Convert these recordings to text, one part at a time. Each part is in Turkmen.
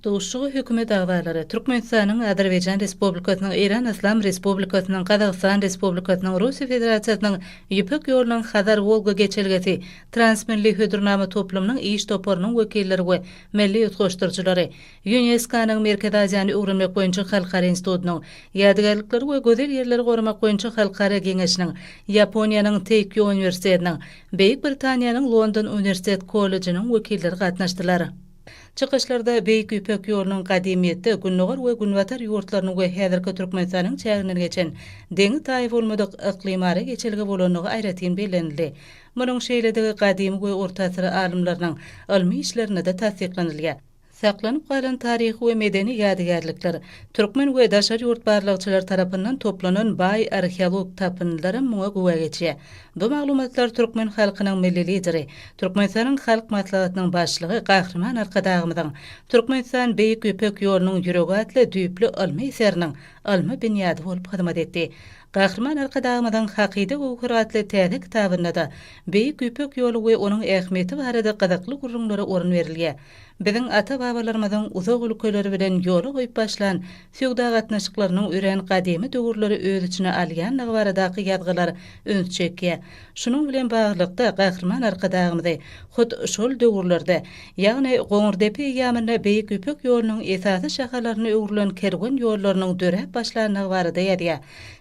Duşuşyga hökümet agzalary, Türkmenistanyň, Azerbaýjan Respublikasynyň, Eýran Yslam Respublikasynyň, Gazagystan Respublikasynyň, Russiýa Federasiýasynyň Ýüpek ýolunyň Hazar-Wolga geçelgesi, Transmilli hödürnama toplumynyň iş toparynyň wekilleri we milli utgaşdyryjylary, Ýunesko-nyň Merkezi Aziýany öwrenmek boýunça halkara institutynyň, Ýadygärlikleri we gözel ýerleri goramak boýunça halkara geňeşiniň, Ýaponiýanyň Teýkýo uniwersitetiniň, Beýik Britaniýanyň London uniwersitet kollejiniň wekilleri gatnaşdylar. Çykyşlarda Beýik Ýüpek ýolunyň gadymyýetde Gündogar we Günbatar ýurtlarynyň we häzirki Türkmenistanyň çäginden geçen deňi-taýy bolmadyk yklymara geçelge bolandygy aýratyn bellenildi. Munuň şeýledigi gadymy we orta asyr alymlarynyň ylmy işlerinde-de tassyklanylýar. Saklanyp galan taryhy we medeni ýadygärlikler, türkmen we daşary ýurt barlagçylary tarapyndan toplanan baý arheologik tapyndylaram muňa güwä geçýär. Bu maglumatlar türkmen halkynyň Milli Lideri, Türkmenistanyň Halk Maslahatynyň Başlygy Gahryman Arkadagymyzyň Türkmenistan, Beýik Ýüpek ýolunyň ýüregi atly düýpli ylmy eseriniň ylmy binýady bolup hyzmat etdi. Gahryman Arkadagymyzyň Hakyda göwher atly täze kitabynda-da Beýik Ýüpek ýoly we onuň ähmiýeti barada gyzykly gürrüňlere orun berilýär. Biziň ata-babalarymyzyň uzak ülkeler bilen ýola goýup başlan söwda gatnaşyklarynyň örän gadymy döwürleri öz içine alýandygy baradaky ýazgylar üns çekýär. Şunuň bilen baglylykda, Gahryman Arkadagymyzy hut şol döwürlerde, ýagny Goňurdepe eýýamynda Beýik Ýüpek ýolunyň esasy şahalaryna öwrülen kerwen ýollarynyň döräp başlandygy barada ýazýar.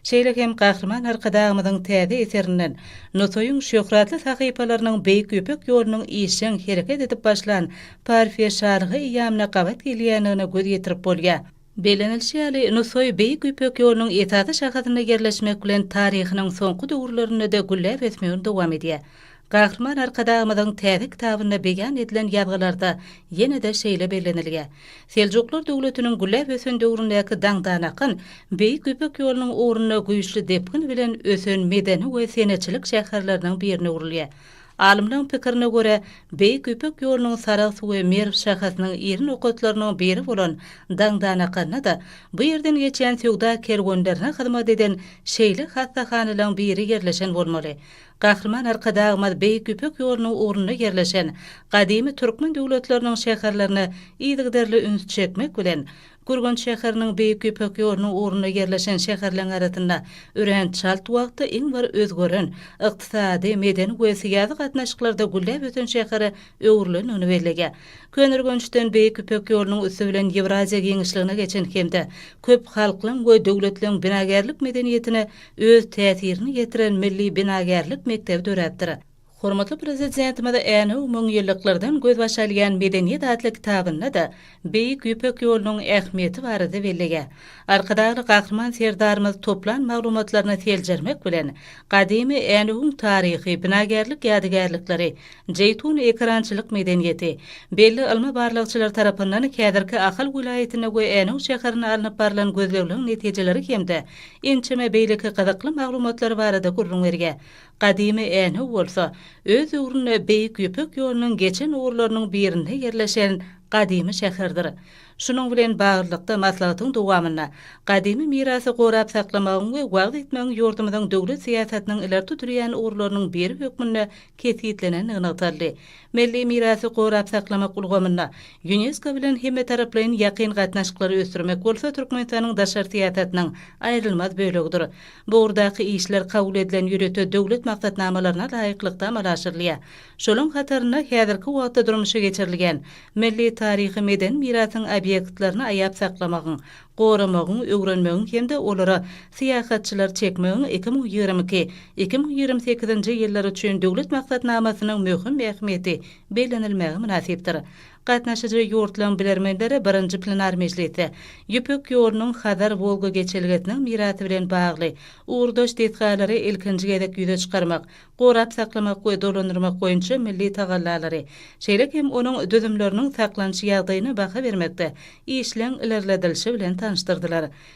Şeýle hem Gahryman Arkadagymyzyň täze eserinden Nusaýyň şöhratly sahypalarynyň Beýik Ýüpek ýolunyň işjeň hereket edip başlan Parfiýa şalygy eýýamyna gabat gelýändigine göz ýetirip bolýar. Bellenilişi ýaly, Nusaý Beýik Ýüpek ýolunyň esasy şahasynda ýerleşmek bilen taryhynyň soňky döwürlerinde-de gülläp ösmegini dowam edýär. Gahryman Arkadagymyzyň täze kitabynda beýan edilen ýazgylarda ýene-de şeýle bellenilýär, Seljuklar döwletiniň gülläp ösen döwründäki daňdan akan Beýik Ýüpek ýolunyň ugrunda güýçli depgin bilen ösen medeni we senetçilik şäherleriniň birine öwrülýär. Alymlaryň pikirine görä, Beýik Ýüpek ýolunyň Sarahs we Merw şahasynyň iri nokatlarynyň biri bolan Daňdanakanda-da bu ýerden geçýän söwda kerwenlerine hyzmat eden şeýle hassahanalaryň biri ýerleşen bolmaly. Gahryman Arkadagymyz Beýik Ýüpek ýolunyň ugrunda ýerleşen gadymy türkmen döwletleriniň şäherlerine yzygiderli üns çekmek bilen, Gürgenç şäheriniň Beýik Ýüpek ýolunyň ugrunda ýerleşen şäherleň arasynda örän çalt wagtda iň bir özgeren, ykdysady, medeni we syýasy gatnaşyklarda gülläp ösen şähere öwrülendigini belleýär. Köneürgençden Beýik Ýüpek ýolunyň üsti bilen Ýewraziýa giňişligine geçen hem-de köp halklaň we döwletleň binagärlik medeniýetine öz täsirini ýetiren milli binagärlik mekdebi döräpdir. Hormatly Prezidentimiz Änew müňýyllyklardan gözbaş alýan medeniýet atly kitabynda-da Beýik Ýüpek ýolunyň ähmiýeti barada belleýär. Arkadagly Gahryman Serdarymyz toplan maglumatlaryny seljermek bilen, gadymy Änewiň taryhy, binagärlik ýadygärlikleri, Jeýtun ekerançylyk medeniýeti, belli ylmy-barlagçylar tarapyndan häzirki Ahal welaýatynda we Änew şäherinde alnyp barlan gözlegleriň netijeleri hem-de ençeme beýleki gyzykly maglumatlary barada gürrüň berýär. Gadymy Änhow bolsa, öz döwründe Beýik Ýüpek ýolunyň geçen ugurlarynyň birinde ýerleşen gadymy şäherdir. Şunuň bilen baglylykda, maslahatyň dowamynda gadymy mirasy gorap saklamagyň we wagyz etmegiň ýurdumyzyň döwlet syýasatynyň ileri tutulýan ugurlarynyň biri hökmünde kesgitlenendigi nygtaldy. Milli mirasy gorap saklamak ulgamynda Ýunesko bilen hemmetaraplaýyn ýakyn gatnaşyklary ösdürmek bolsa Türkmenistanyň daşary syýasatynyň aýrylmaz bölegidir. Bu ugurdaky işler kabul edilen ýörite döwlet maksatnamalaryna laýyklykda amala aşyrylýar. Şolaryň hatarynda häzirki wagtda durmuşa geçirilýän milli taryhy-medeni mirasyň obýektlerini aýap saklamagyň, goramagyň, öwrenmegiň hem-de olara syýahatçylary çekmegiň iki müň ýigrimi iki, iki müň ýigrimi sekizinji ýyllary üçin döwlet maksatnamasynyň möhüm ähmiýeti bellenilmäge mynasypdyr. Gatnaşyjy ýurtlaryň bilermenleri birinji plenar mejlisde Ýüpek ýolunyň Hazar-Wolga geçelgesiniň mirasy bilen bagly ugurdaş desgalary ilkinji gezek ýüze çykarmak, gorap saklamak we dolandyrmak boýunça milli tagallalary, şeýle hem onuň düzümleriniň saklanyş ýagdaýyna baha bermekde işleň ilerledilişi bilen tanyşdyrdylar.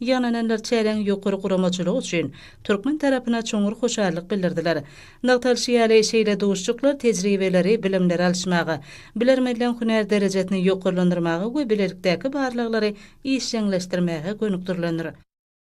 Ýygnananlar çäräň ýokary guramaçylygy üçin türkmen tarapyna çuňňur hoşallyk bildirdiler. Nygtalyşy ýaly, şeýle duşuşyklar tejribeleri, bilimleri alyşmaga, bilermenleň hünär derejesini ýokarlandyrmaga we bilelikdäki barlaglary işjeňleşdirmäge gönükdirilendir.